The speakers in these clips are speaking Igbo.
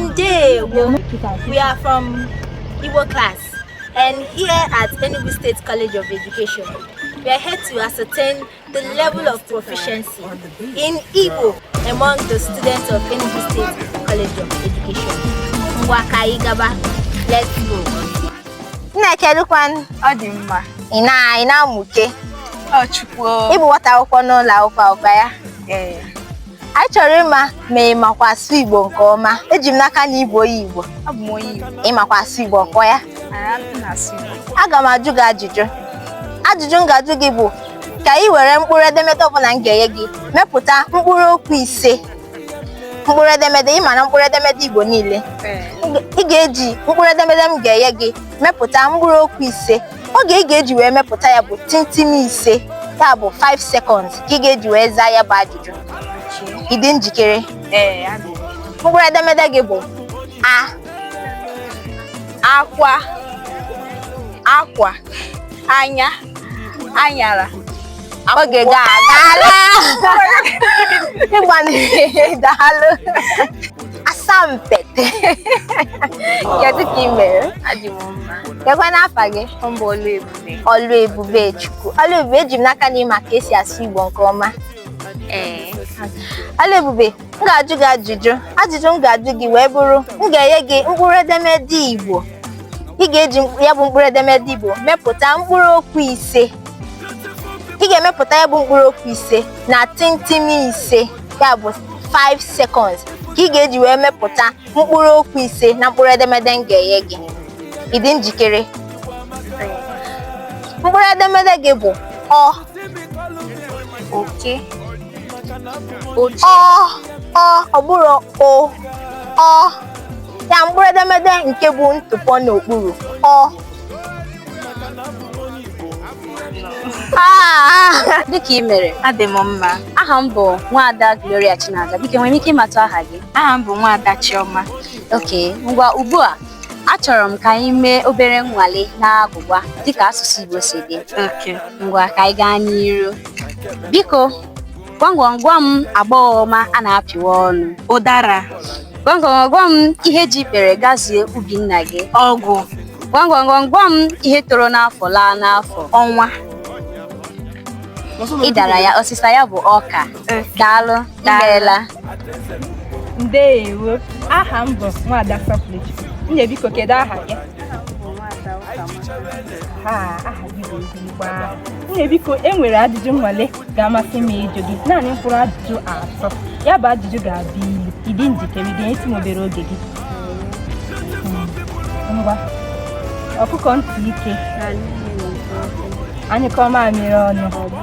Ndewo. We are from Igbo class and here at Enugu State College of Education, we are here to ascertain the level of proficiency in Igbo among the students of Enugu State College of Education. Ngwa ka anyị gaba, let's go. Nne kedụkwanụ. Ọ dị mma. Ị na ị na-amụke. Ọ chukwu. Ị bụ nwata akwụkwọ n'ụlọ akwụkwọ a? Ee. anyị chọrọ ịma ma ị makwa asụ Igbo nke ọma eji m n'aka na ị bụ onye Igbo abụ m onye Igbo ị makwa asụ Igbo ọ kwa ya aga m ajụ gị ajụjụ ajụjụ m ga-ajụ gị bụ ka ị were mkpụrụ edemede ọbụla m ga-enye gị mepụta mkpụrụ okwu ise mkpụrụ edemede ị mara mkpụrụ edemede Igbo niile ị ga-eji mkpụrụ edemede m ga-enye gị mepụta mkpụrụ okwu ise oge ị ga-eji wee mepụta ya bụ timtim ise ya bụ 5 seconds ka ị ga-eji wee zaa ya bụ ajụjụ ị dị njikere ee adị m. mkpụrụ edemede gị bụ a akwa akwa anya anyara oge gị agaala ị gbanịrị daalụ asampete kedu ka ị mere adị m mma kekwanụ afa gị ọ bụ ọlụebube ọlụebubechukwu ọlụebube eji m n'aka na ị ma ka esi asụ igbo nke ọma ee ọlụebube m ga-ajụ gị ajụjụ ajụjụ m ga-ajụ gị wee bụrụ m ga-enye gị mkpụrụ edemede Igbo ị ga-eji ya bụ mkpụrụ edemede Igbo mepụta mkpụrụ okwu ise ị ga-emepụta ya bụ mkpụrụ okwu ise na timtim ise ya bụ 5 seconds ka ị ga-eji wee mepụta mkpụrụ okwu ise na mkpụrụ edemede m ga-enye gị ị dị njikere mkpụrụ edemede gị bụ ọ oke ọ ọ ọ bụrọ o ọ ya mkpụrụ edemede nke bu ntụpọ n'okpuru ọ kedu ka ị mere adị m mma aha m bụ nwaada Gloria Chinaza biko nwere m ike ịmatụ aha gị aha m bụ nwaada Chioma okay ngwa ugbu a Achọrọ m ka anyị mee obere nnwale n'agwụgwa dịka asụsụ Igbo si dị. Okay. Ngwa ka anyị gaa n'iru. Biko, gwa m gwa m gwa m agbọghọ ọma a na-apịwa ọnụ. Ụdara, Gwa m gwa m gwa m ihe ji ikpere gazie ubi nna gị. ọgụ, Gwa m gwa m gwa m ihe toro n'afọ laa n'afọ. ọnwa. Ị dara ya, ọsịsa ya bụ ọka. Okay. Daalụ. imeela ndeewo aha m bụ nwada Sọpụlụchi nne biko kedu aha gị aha gị bụ ezigbo aha nne biko e nwere ajụjụ nwale ga-amasị m ịjụ gị naanị mkpụrụ ajụjụ atọ ya bụ ajụjụ ga-abụ ilu ị dị njikere ị ga-enyetụ m obere oge gị ngwa ọkụkọ ntị ike a nyụkọọ mamịrị ọnụ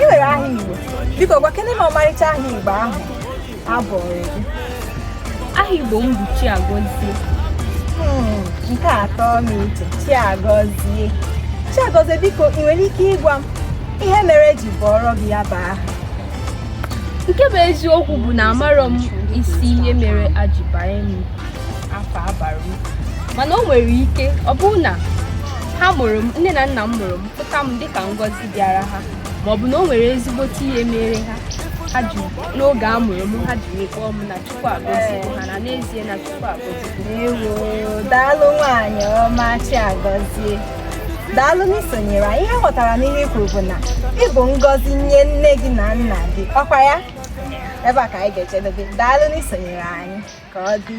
ị nwere aha Igbo biko gwakene m ọmarịcha aha Igbo ahụ a bụrụ gị aha Igbo m bụ Chiagọzie hmm, nke a tọ m iche Chiagọzie Chiagọzie biko ị nwere ike ịgwa m ihe mere e ji bụọrọ gị ya bụ aha nke bụ eziokwu bụ na amarọ m isi ihe mere ha ji banye m afa a bara m mana o nwere ike ọ bụrụ na ha mụrụ m nne na nna m mụrụ m pụta m dịka ngọzi bịara ha ma ọ bụ na o nwere ezigbote ihe mere ha ha ji n'oge a mụrụ m ha jiri kpọọ m na chukwu agọzigo ha na n'ezie na chukwu agọzigo Ewo, daalụ nwaanyị ọma Chiagọzie daalụ n'isonyere anyị ihe m ghọtara n'ihe i kwuru bụ na ị bụ ngọzi nye nne gị na nna gị ọkwa ya ebe a ka anyị ga-ejedobe daalụ n'isonyere anyị ka ọ dị